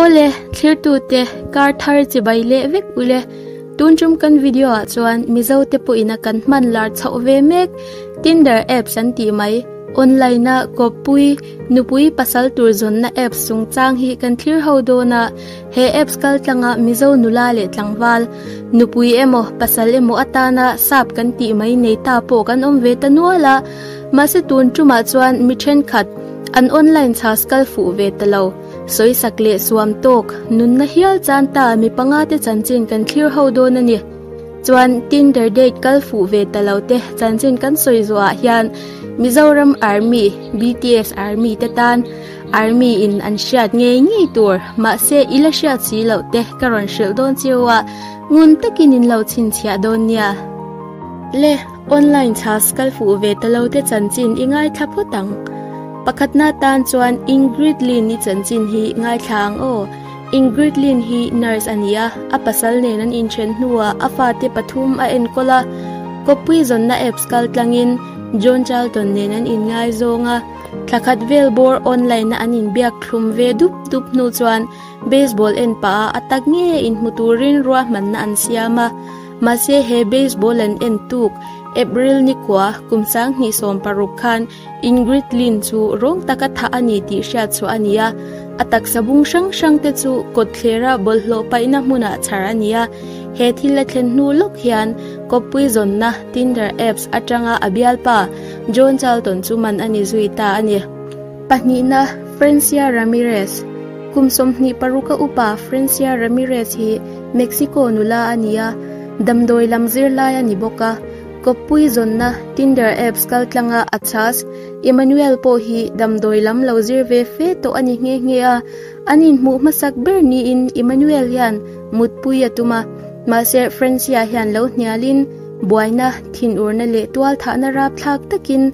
Aw le, thirtute, kar thar chi bai leh vek u le. Tun tum kan video ah chuan Mizo te pawh in a kan hman lar chhoh ve mek. Tinder apps an tih mai. Online a kawppui, nupui pasal tur zawnna apps chungchang hi kan thlir ho dawn a. He apps kal tlang ah Mizo nula leh tlangval, nupui emaw pasal emaw atana sap kan tih mai nei ta pawh kan awm ve ta nual a. Mahse tun tumah chuan mi thenkhat an online chhas kal fuh ve ta lo. Sawisak leh suam tawk nunna hial chan ta mi panga te chanchin kan thlir ho dawn a ni. Chuan Tinder date kal fuh ve ta lo te chanchin kan sawi zawh ah hian Mizoram Army, BTS Army te tan Army in an hriat ngei ngei tur mahse i la hriat si loh te ka rawn hrilh dawn cio a, ngun takin in lo chhinchhiah dawn nia. Le. Online class kal fuh ve ta lo te chanchin i ngaithla phawt ang. Pakhatna tan chuan Ingrid Lin i chanchin hi ngaithla ang aw. Ingrid Lin hi nurse a ni a, a pasal nen an inthen hnuah a fate pathum a enkawl a. Khawpui zawnna apps kal tlangin John Charlton nen an inngaizawng a. Thla khat vel bawr online ah an inbiak thlum ve dup dup hnu chuan baseball en pah ah a ta ngeiin hmu turin ruahmanna an siam a. Mahse he baseball an en tuk April nikua kum sang hnih sawm paruk khan Ingrid Lin chu rawng taka thah a ni tih hriat chhuah a ni a. A taksa bung hrang hrang te chu kawtthlerah bawlhhlawh paihna hmunah chhar a ni a. He thil a thlen hnu lawk hian Kawppui zawnna Tinder apps atanga a bialpa John Charlton chu man a ni zui ta a ni. Pahnihna, Francia Ramirez, Kum sawmhnih paruka upa Francia Ramirez hi, Mexico nula a ni a, damdawi lam zirlai a ni bawk a. Kawppui zawnna Tinder apps kal tlanga a chas Emmanuel pawh hi damdawi lam lo zir ve fe tawh a ni nghe nghe a. An inhmuh hmasak ber niin Emmanuel hian mutpui a tum a, mahse Francia hian lo hnialin buaina, thinurna leh tualthahna rapthlak takin,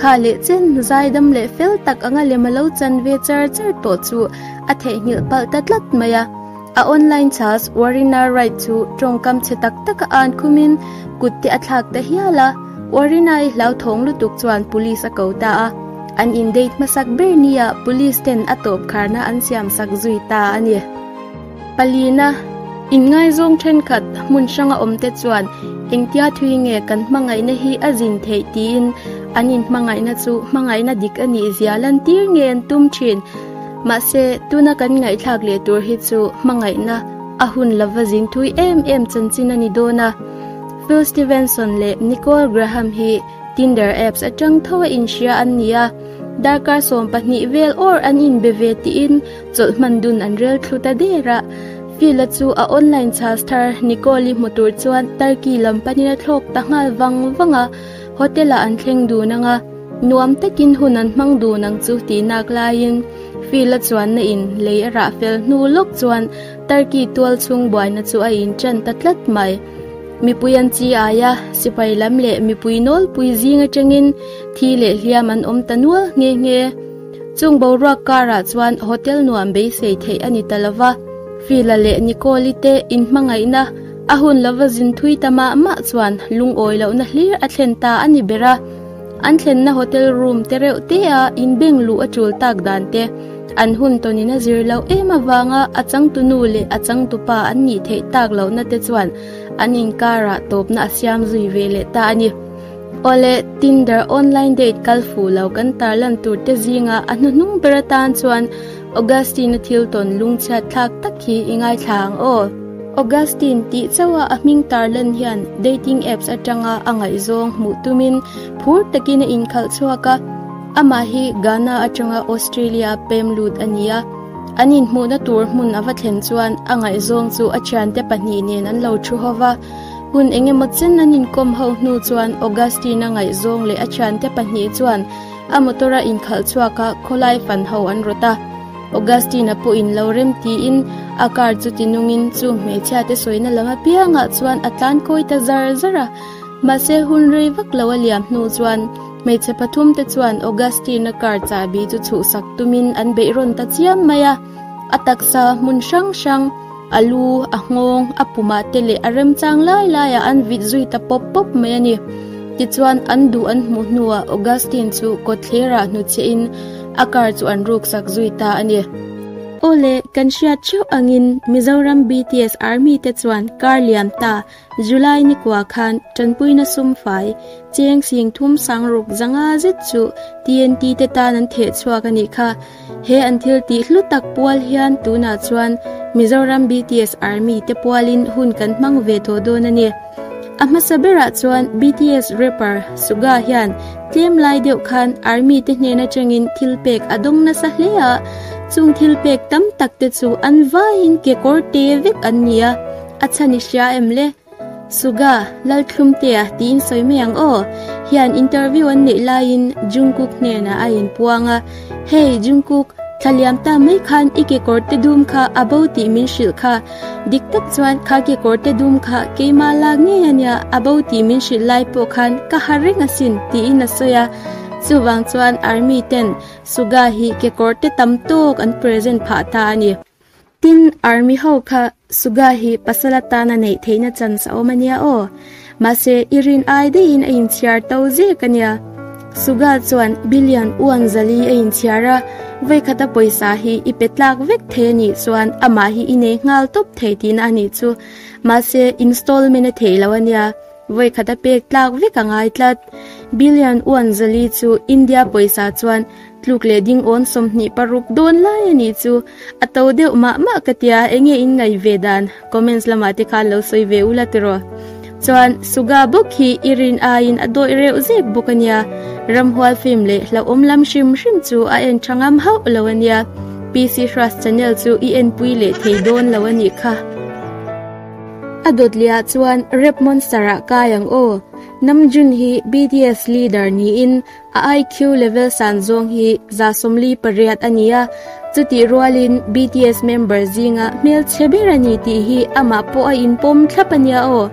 Kha leh chen zaidam leh fel tak anga lem alo chan ve char char tawh chu a theihnghilh palh ta tlat mai a. A online chas Warina Wright chu tawngkam chhe tak taka an khum in kut te a thlak ta hial a, Warina-i hlauthawng lutuk chuan police a ko ta a, an indate hmasak ber nia police ten a tawpkharna an siamsak zui ta a ni. Palina, In ngaizawng thenkhat hmun hranga awmte chuan engtia thui nge kan hmangaihna hi a zin theih tiin an inhmangaihna chu hmangaihna dik a nih zia lan tir nge an tum thin. Mahse, tuna kan ngaihthlak leh tur hi chu hmangaihna a hun lova zin thui em em chanchin a ni dawn a. Phil Stevenson leh Nicole Graham hi Tinder apps atang tho a inhria an ni a, darkar sawm pahnih vel awr an inbe ve tiin, Chawlh hman dun an rel thlu ta der a. Phil-a chu a online charge thar Nicole-i hmu tur chuan Turkey lam panin a thlawk ta nghal vang vang a. Hotel-ah an thleng dun ang a, nuam takin hun an hmang dun ang chu tih nak laiin Phil-a chuanna in lei a rah fel hnu lawk chuan Turkey tual chhung buaina chu a in ṭan ta tlat mai. Mipui an chi ai a, sipai lam leh mipui nawlpui zing aṭangin thi leh hliam an awm ta nual nghe nghe. Chung boruak karah chuan hotel nuam beisei theih a ni ta lo va, Fila leh Nicole-i te in hmangaihna a hun lova zin thui ta mah mah chuan lungawi lohna hlir a thlen ta a ni ber a. An thlenna hotel room te reuh te a inbeng luh a tul tak dan te an hun tawn in a zir lo em avanga a changtu nu leh a changtu pa an nih theih tak lohna te chuan an inkarah tawpna a siam zui ve leh ta a ni. Awle, Tinder online date kal fuh lo kan tarlan turte zinga a hnuhnung ber atan chuan Augustine-a thil tawn lungchhiat thlak tak hi i ngaithla ang aw. Augustine tih chauha a hming tarlan hian dating apps atanga a ngaihzawng hmuh tumin phur takin a inkhalh chhuak a. Amah hi Ghana atanga Australia pem lut a ni a, an inhmuhna tur hmun a va thlen chuan a ngaihzawng chu a thiante pahnih nen an lo thu ho va, Hmun eng emaw chen an inkawm ho hnu chuan Augustine-a ngaihzawng leh a thiante pahnih chuan a motor a inkhalh chhuak a khawlai fan ho an rawt a. Augustine-a pawh in lo rem tiin a car chu tinungin chu hmeichhia te sawina lam apiangah chuan a tlan kawi ta zar zar a. Mahse hun rei vak lo a liam hnu chuan hmeichhe pathum te chuan Augustine-a car chahbi chu chhuhsak tumin an beih rawn ta chiam mai a. A taksa hmun hrang hrang. A lu, a nghawng, a pumah te leh a remchang lai laiah an vit zui ta pawp pawp mai a ni. Tichuan, an duh an hmuh hnuah Augustine chu kawtthlerah hnu chiahin a car chu an ruksak zui ta a ni. Awle, kan hriat ṭheuh angin Mizoram BTS Army te chuan car lian ta July ni kua khan Tanpuina sum fai, cheng sing thum sang ruk zanga zet chu TNT te tan an theh chhuak a nih kha. He an thil tih hlu tak pual hian tunah chuan Mizoram BTS Army te pualin hun kan hmang ve tawh dawn a ni. A hmasa berah chuan BTS rapper Suga hian tlem lai deuh khan Army te hnen atangin thil pek a dawng nasa hle a, chung thil pek tam tak te chu an vaiin kekawr te vek an ni a. A chhan i hria em le? Suga, Lalthlum te a ti in sawi mai ang aw. Hian interview an neih lai in Jungkook hnenah a in puang a, Hey Jungkook, thla liam ta mai khan i kekawr te dum kha a bo tih min hrilh kha. Dik tak chuan kha kekawr te dum kha keimah lak ngei a nia, a bo tih min hrilh lai pawh khan ka har reng a sin, tiin a sawi a. Chuvang chuan Army ten Suga hi kekawr te tam tawk an present phah ta a ni. Tin, Army ho kha Suga hi pasal atana neih theihna chance a awm a nia aw. Mahse, i rin ai deihin a inchhiar to zek a nia. Suga chuan Billion Uanzali a inchhiar a, veikhata pawisa hi i pe tlak vek thei a nih chuan amah hi i nei nghal tawp thei tihna a nih chu. Mahse, installment a theih lo a nia. Vawikhat a pek tlak vek a ngai tlat. Billion Uan Zali chu India pawisa chuan tluk leh dingawn sawmhnih paruk dawn lai a nih chu. A to deuh mah mah ka ti a, eng nge in ngaih ve dan? Comments lamah te khan lo sawi ve ula tiraw? Chuan Suga bawk hi i rin aiin a dawih reuh zek bawk a nia. Ramhual film leh hlauhawm lam hrim hrim chu a en tha ngam hauh lo a nia. PC Hruas Channel chu i enpui leh thei dawn lo a nih kha. A dawt leh ah chuan rap monster ah kai ang aw. Namjoon hi BTS leader niin a IQ level san zawng hi za sawmli pariat a ni a, chutih rual in BTS member zing ah hmelchhe ber a ni tih hi amah pawh a inpawm thlap a nia aw.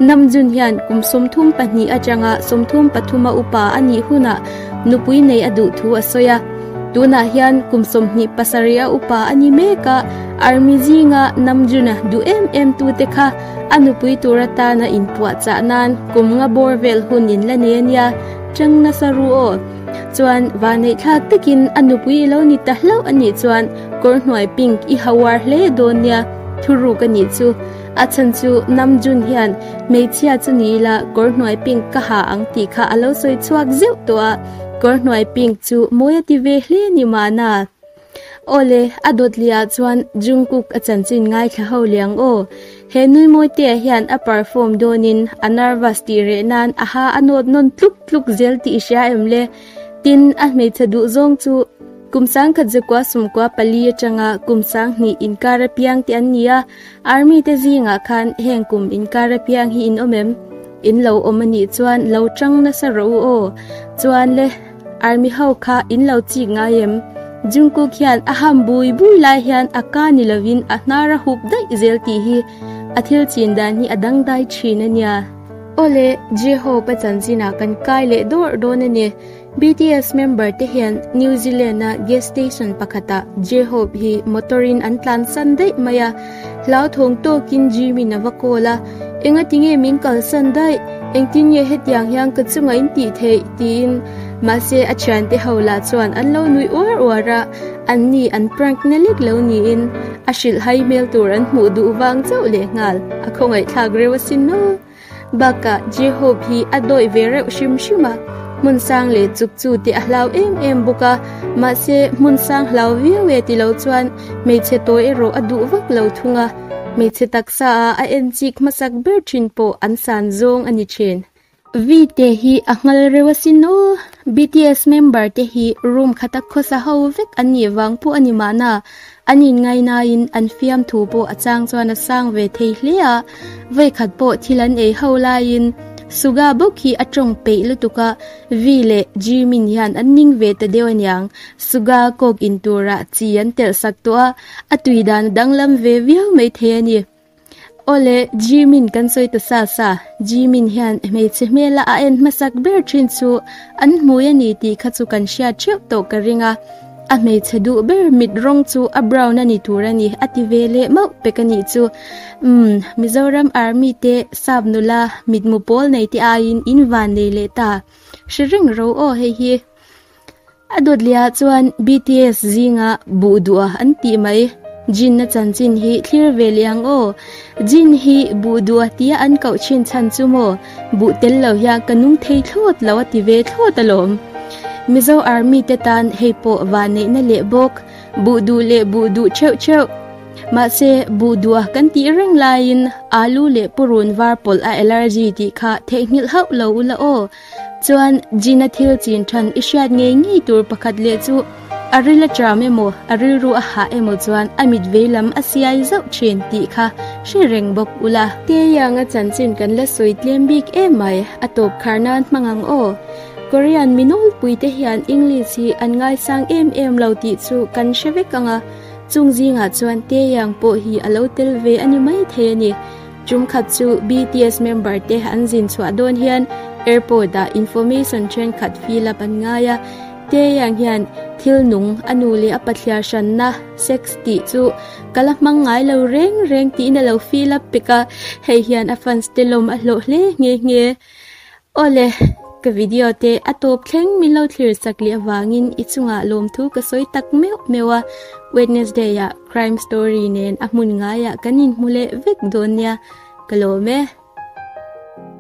Namjoon hian kum sawmthum pahnih atanga sawmthum pathum a upa a nih hunah nupui nei a duh thu a sawi a. Tunah hian kum sawmhnih pasarih a upa a ni mek a. Army zinga Namjoona duh em em tu te kha a nupui tur atana inpuah chah nan kumnga bawr vel hun in la nei ania, chang nasa ru aw. Chuan vaneithlak takin a nupui i lo ni ta hlauh anih chuan kawr hnuai pink i hau ar hle dawn nia, thuruk anih chu. A chhan chu Namjoon hian hmeichhia chu ni ila kawr hnuai pink ka ha ang tih kha a lo sawi chhuak zeuh tawh a, kawr hnuai pink chu mawi a ti ve hle ni mahna. Awle, a dawt leh ah chuan Jungkook a chanchin ngaithla ho leh ang aw. He nui mawi te ah hian a perform dawn in a nervous tih reh nan aha a nawt nawn tluk tluk zel tih i hria em le. Tin, a hmeichhe duh zawng chu kum sangkhat zakua sumkua pali atanga kum sang hnih inkar apiang te an ni a. Army te zingah khan heng kum inkar apiang hi in awm em? In lo awm a nih chuan lo ṭang nasa rawh u aw. Chuan le, Army ho kha in lo chik ngai em? Jungkook hian a ham bui bui lai hian a ka ni lovin a hnar a hup daih zel tih hi a thil chin dan hi a dangdai ṭhin a nia. Aw le, J-hope-a chanchinah kan kai leh dawrh dawn a ni. BTS member te hian New Zealand a gas station pakhata J-Hope hi motor in an tlan san daih mai a. Hlau thawng tawkin Jimin a va call a, Engati nge min kal san daih? Engtin nge hetiang hian ka chunga in tih theih? tiin. Mahse a thiante ho lah chuan an lo nuih uar uar a, an ni an prank na lek lo niin a hrilh hai hmel tur an hmuh duh vang chauh lehnghal. A khawngaih thlak reuh asin maw? Bakah, Jehob hi a dawih ve reuh hrim hrim a, hmun sang leh chuk chu teh a hlau em em bawk a. Mahse, hmun sang hlau viau e ti lo chuan hmeichhe tawi erawh a duh vak lo thung a, hmeichhe taksa a a en chik hmasak ber thin pawh an san zawng a ni thin. Vite hi a nghal reuh asin aw. BTS member te hi room khata khawsa ho vek an nih vang pawh a ni mahna, An in ngai naiin an fiam thu pawh a chang chuan a sang ve thei hle a, vaikhat pawh thil an ei ho laiin Suga bawk hi a tawng peih lutuk a, Vi leh Jimin hian an ning ve ta deuh aniang, Suga kawk in tura chi an telh sak tawh a, a tui dan a danglam ve viau mai thei a ni. Awle, Jimin kan sawi ta sa sa. Jimin hian hmeichhe hmela a en hmasak ber thin chu an hmui a ni tih kha chu kan hriat theuh tawh ka ring a. A hmeichhe duh ber mit rawng chu a brown a ni tur a ni, a ti ve leh mauh pek a nih chu. Umm, Mizoram Army te sap nula mitmu pawl nei te aiin in van nei leh ta. Hre reng ro aw hei hi. A dawtliah chuan BTS zinga buh duh a an tih mai. Jin a chanchin hi thlir ve leh ang aw. Jin hi buh duh a tia an koh thin chhan chu maw buh tel lo hian ka nung thei thlawt lo a ti ve thlawt alawm. Mizo Army te tan hei pawh vah neihna leh bawk, buh duh leh buh duh theuh theuh. Mahse buh duh a kan tih reng laiin alu leh purun var pawlh a allergy tih kha theihnghilh hauh lo ula aw. Chuan Gina thil chin than i hriat ngei ngei tur pakhat leh chu a ril a ṭam emaw, a rilru a hah emaw chuan a mit vei lam a siai zauh ṭhin tih kha hre reng bawk ula. Taeyang a chanchin kan la sawi tlem bik em mai, a tawp khar nan hmang ang aw. Korean mi nawlpui te hian English hi an ngaisang em em lo tih chu kan hre vek ang a, chung zingah chuan Taeyang pawh hi a lo tel ve a ni maithei a ni. Chung khat chu BTS member te an zin chhuah dawn hian airport ah information thenkhat fill up an ngai a. Taeyang hian thil nung a nu leh a pathliar hranna, sex, tih chu ka la hmang ngai lo reng reng tiin a lo fill up pek a, hei hian a fans te lawm a hlawh hle nghe nghe. Aw le, ka video te a tawp thleng min lo thlir sak leh avangin i chungah lawmthu ka sawi tak meuh meuh a, Wednesday ah crime story nen a hmun ngaiah kan inhmu leh vek dawn nia, ka lawm e.